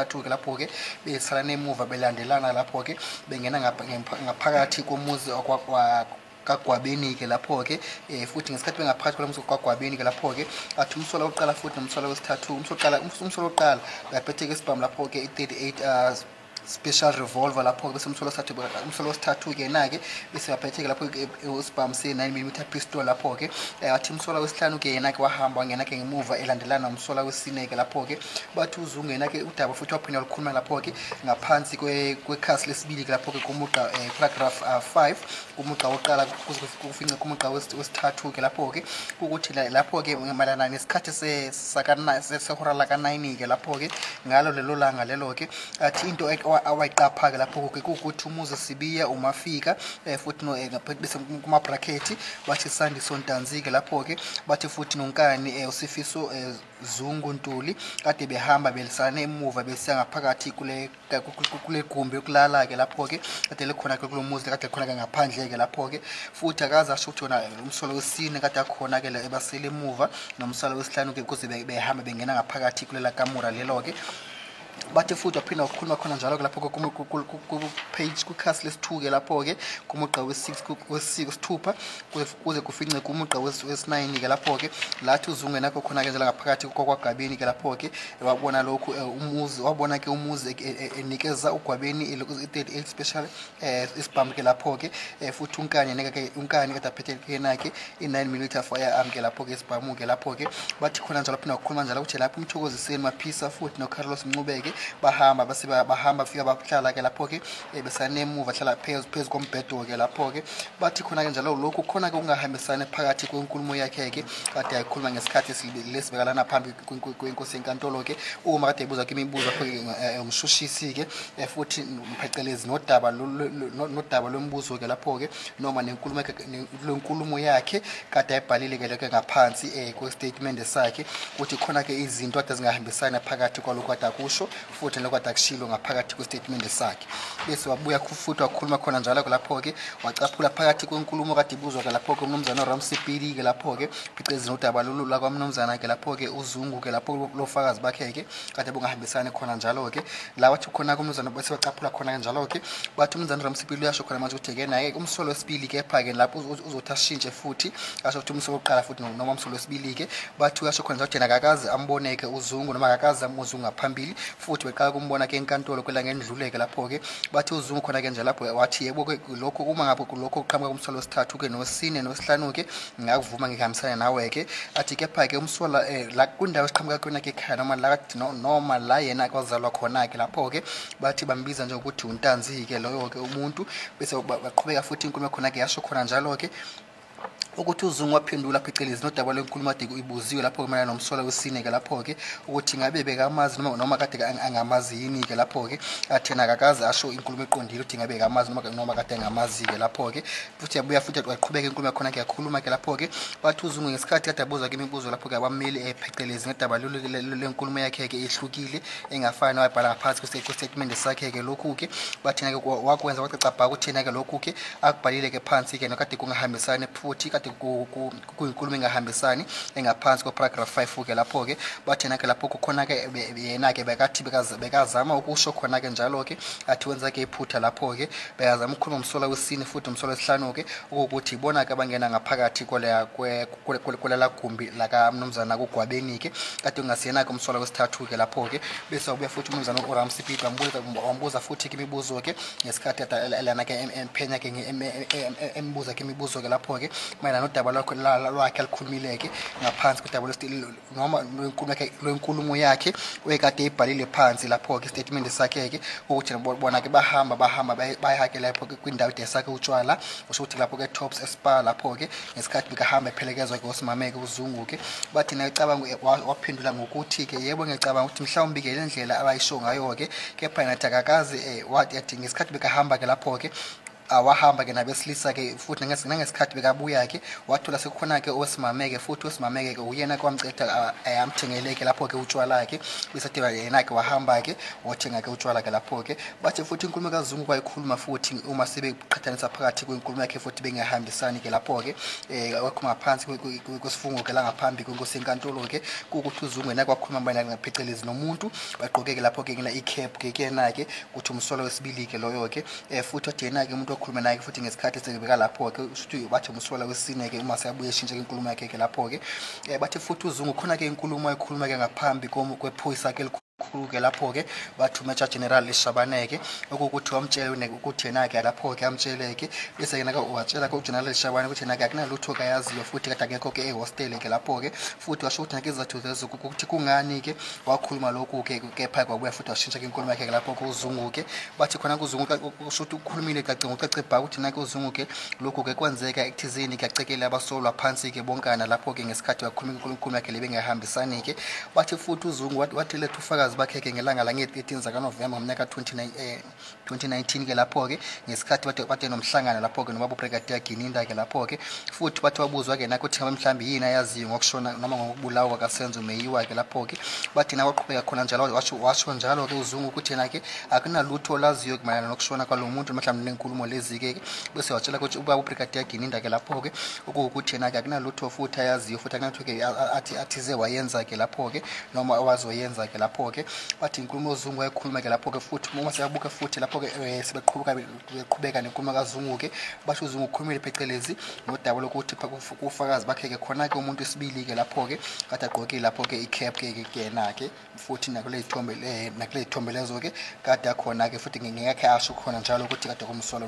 athuke lapho-ke besalana emuva belandelana lapho-ke bengena ngaphakathi komuzi kagwabeni-ke lapho-ke um futhi ngesikhathi bengaphakathi kwalo msoco kagwabeni-ke lapho-ke athi umsola wokuqala futhi nomsola wesithathu umsola wokuqala uyaphetheka esibhamu lapho-ke i-thirty eight hours special revolver lapho-ke bese umsolo wesithathu umsolo wesithathu-ke yena-ke bese baphethe-ke lapho usibhamu se-nine millimeter pistol lapho-ke eh, wathi umsola wesihlanu-ke yena-ke wahamba wangena-ke ngemuva elandelana nomsola wesine-ke lapho-ke bathi uzungena-ke udaba futhi waphinde walukhuluma lapho-ke ngaphansi kwekhasi lesibili-ke lapho-ke kumugqa um eh, paragraph ah, five kumugqa wokuqala kufince kumugqa wesithathu-ke lapho-ke ukuthi lapho-ke mayelana nesikhathi sehora lakanayini-ke lapho-ke ngalo lelo langa lelo-ke athi into awayiqapha-ke lapho-ke kuwukuthi umuzi sibiya umafika um futhi eh, bese kumabhrakhethi bathi sandiso ntanzi-ke lapho-ke bathi futhi nonkani um usifiso um zungu ntuli kade behamba belisane emuva besiya ngaphakathi kule kule gumbi yokulala-ke lapho-ke kade likhona-ke kulo muzi kade khona-ke ngaphandle-ke lapho-ke futhi akaze asho ukuthi yona umsolo wesine kade akhona-ke le ebasele emuva nomsolo wesihlanu-ke kuze behambe bengena ngaphakathi kulela kamura lelo-ke bathi futhi waphinda wakhuluma khona njalo ke lapho ku-page kwikhasi lesi-two-ke lapho-ke kumugqa wesithupha kuze kufince kumugqa wesinayini ke lapho-ke lathi uzungenakho khona-ke njela ngaphakathi kwakwagabeni ke lapho-ke wabona lokhu eh, umuzi wabona ke umuzi eh, eh, enikeza ugwabeni i-38 special um isibhamu ke lapho-ke um futhi unkani neke unkani kade aphethekenakhe i-nine millimeter fire arm ke lapho-ke isibhamu ke lapho-ke bathi khona njalo phinde wakhuluma njalo ukuthi lapho umthokoziseni maphisa futhi nocarlos ncubeke bahamba bahamba fika bahlala ke lapho-ke ebesanemuva hlala phezu phezu kombhedo-ke lapho-ke bathi khona-ke njalo lokhu khona-ke ukungahambisani phakathi kwenkulumo yakhe-ke kade ayikhuluma ngesikhathi lesibekalana phambi kwenkosi yenkantolo-ke uma kade ebuza kwimibuzo akho-ke eh, umshushisi-ke eh, futhi phecelezi nodaba nodaba lwemibuzo-ke lapho-ke noma nenkulumo yakhe kade ayibhalile-ke lokho ngaphansi um kwesitatimende sakhe ukuthi khona-ke izinto kade zingahambisani phakathi kwalokhu kade akusho futhi lokho kade akushilo ngaphakathi kwesitatimende sakhe bese wabuya futhi wakhuluma khona njalo-ke lapho-ke wacaphula phakathi kwenkulumo kade ibuzwa-ke lapho-ke umnumzana uramsipili-ke lapho-ke phecelezi nodaba lolu lakwamnumzana-ke lapho-ke uzungu-ke lapho lofakazi bakhe-ke kade bungahambisani khona njalo-ke la wathi khona-ke umnumzana bese bacaphula khona-ke njalo-ke bathi umnumzana uramsipili uyasho khona manje ukuthi-ke naye umsolo wesibili kepha-ke lapho uzothi ashintshe futhi asho ukuthi umsolo wokuqala futhi noma umsolo wesibili-ke bathi uyasho khona zakuthena akakaze amboneke uzungu noma akakaze amuzungu ngaphambili futhi beqala kumbona ke enkantolo kwela ngendluleke lapho-ke bathi uzungu khona-ke nje lapho wathi yebo ke lokho uma ngabe kulokho kuqhamuka kumsolo wesithathu-ke nosine nosihlanu-ke ngingakuvuma ngihambisane nawe-ke athi kepha-ke umsola um eh, la kwindawo esiqhamuka kuyona-ke ekhaya noma la noma la yena kwazalwa khona-ke lapho-ke bathi bambiza nje ukuthi untanzi-ke loyo-ke umuntu bese baqhubeka futhi inkulumo khona-ke yasho khona njalo-ke ukuthi uzungu waphendula phecelezi nodaba lwenkulumadiko ibuziwe lapho-ke mayelana nomsola wesine-ke lapho-ke ukuthi ngabe bekamazi noma, noma kade angamazi yini-ke lapho-ke athena akakaze asho inkulumo eqondile ukuthi ngabe kamazi noma, noma kade angamazi-ke lapho-ke futhi yabuya futhi waqhubeka inkulumo yakhona-ke yakhuluma-ke lapho-ke bathi uzungu ngesikhathi kade abuza ke imibuzo lapho-ke abameli eh, phecelezi ngedaba lenkulumo yakhe-ke ehlukile engafani nawayibhala ngaphansi kwesitatimende sakhe-ke lokhu-ke bathina-ke wakwenza kwacacabhaka ukuthina-ke lokhu-ke akubhalile ke phansi ke nokade kungahambisani futhi kade kuyinkulumo engahambisani engaphansi kweparagraph 5 ke lapho ke bathena ke lapho kukhona ke yena ke bekathi bekazama ukusho khona ke njalo ke athi wenza ke iphutha lapho ke bekazama ukukhuluma umsola wesine futhi umsola wesihlanu ke ukuthi ibona ke abangena ngaphakathi koleya kulala gumbi lakamnumzana kugwabeni-ke kade kungasiyena-ke umsolwa wesithathu-ke lapho-ke bese wabuya futhi umnumzana uram sipito wambuza futhi-ke imibuzo-ke ngesikhathi lana-ke emphenya-ke embuza-ke imibuzo-ke lapho-ke mayelana nodaba lwakhe alikhulumile-ke ngaphansi kodaba noma lwenkulumo yakhe wayekade eyibhalile phansi lapho-ke isitatimende sakhe-ke ukuthi bona-ke bahamba bahamba bayake lapho-ke kwindawo idesakhe utshwala usho ukuthi lapho-ke tops espa lapho-ke ngesikhathi bekahamba ephelekezwa-ke usimameke uzungu-ke bathi nayecabanga waphendula ngokuthi-ke yebo ngiyacabanga ukuthi mhlawumbi-ke le ndlela abayisho ngayo-ke kepha nathi akakazi um eh, wathi athi ngesikhathi bekahamba-ke lapho-ke awahamba ke nabesilisa ke futhi nangesikhathi bekabuya ke wathola sekukhona ke owesimame ke futhi owesimame ke uyena ke wamceda ayamthengele ke lapho ke utshwala ke uyisathi yena ke wahamba ke wothenga ke utshwala ke lapho ke bathi futhi inkulumo kazungu kwayikhuluma futhi uma sebeqhathanisa phakathi kwenkulumo yakhe futhi bengahambisani ke lapho ke eh wakhuluma phansi kwesifungo ke langaphambi kwenkosi enkantolo ke ukuthi uzungu yena kwakhuluma bayina ngaphecelezi nomuntu bagqoke ke lapho ke ngina i cap ke kuyena ke ukuthi umsolo wesibili ke loyo ke Eh, futhi odena ke umuntu okhuluma naye futhi ngesikhathi esengibeka lapho ke usuthi bathi umsola wesine ke uma seyabuye eshintshe inkulumo yakhe ke lapho ke eh, bathi futhi uzungu khona ke inkulumo ayikhuluma ke ngaphambi kwephoyisa ke khulu-ke lapho-ke bathi umeja general eshabaneke okuwukuthi wamtshele ukuthi yena-ke lapho-ke amtshele-ke bese yena-ke watshela-ke ugeneral eshabane ukuthi yena-ke akunalutho kayaziyo futhi kade akekho-ke ehostele-ke lapho-ke futhi washo ukuthi nakizathu zezo ukuthi kungani-ke wakhuluma lokhu-ke kepha kwabuya futhi washintsha-ke inkulumo yakhe-ke lapho-ke uzungu-ke bathi khona kuzungu kusho ukuthi ukhulumile kace ngocace bha ukuthi nake uzungu ke lokhu ke kwenzeka ekuthizini kuyacekela abasolwa phansi ke bonkana lapho ke ngesikhathi wakhuluma inkulunkulu yakhe lebengahambisani ke bathi futhi uzungu wathi lethu ufakazi bakhe ke ngelanga la nge-13 zakanovemba ngomnyaka 2019 eh, ke lapho ke ngesikhathi bathe bathe nomhlangano lapho ke nobaba ubrigadier gininda ke lapho ke futhi bathi wabuzwa ke nakuthi ngabe mhlawumbe yini ayaziyo ngokushona noma ngokubulawa kasenzo meyiwa ke lapho ke bathi nakwaqhubeka khona njalo washo washo njalo ke uzungu ukuthi yena ke akunalutho olaziyo kumayelana nokushona kwalo muntu noma mhlawumbe nenkulumo lezi-ke bese watshela ukuthi uba ubrigadier gininda-ke lapho-ke okuwukuthi yena-ke akunalutho futhi ayaziyo futhi akunalutho-ke athi athize wayenza-ke lapho-ke noma awazoyenza-ke lapho-ke wathi inkulumo ozungu wayekhuluma-ke lapho-ke futhi uma siyabuka futhi lapho-ke um eh, sebeqhubeka nenkulumo kazungu-ke basho uzungu ukhulumile phecelezi nodaba lokuthi kufakazi bakhe-ke khona-ke umuntu isibili-ke lapho-ke kade agqokile lapho-ke i-cap-ke kuyena-ke futhi nakule ithombe eh, nakule ithombe lezo ke kade akhona ke futhi ngingekhe asho khona njalo ukuthi kade kumsolo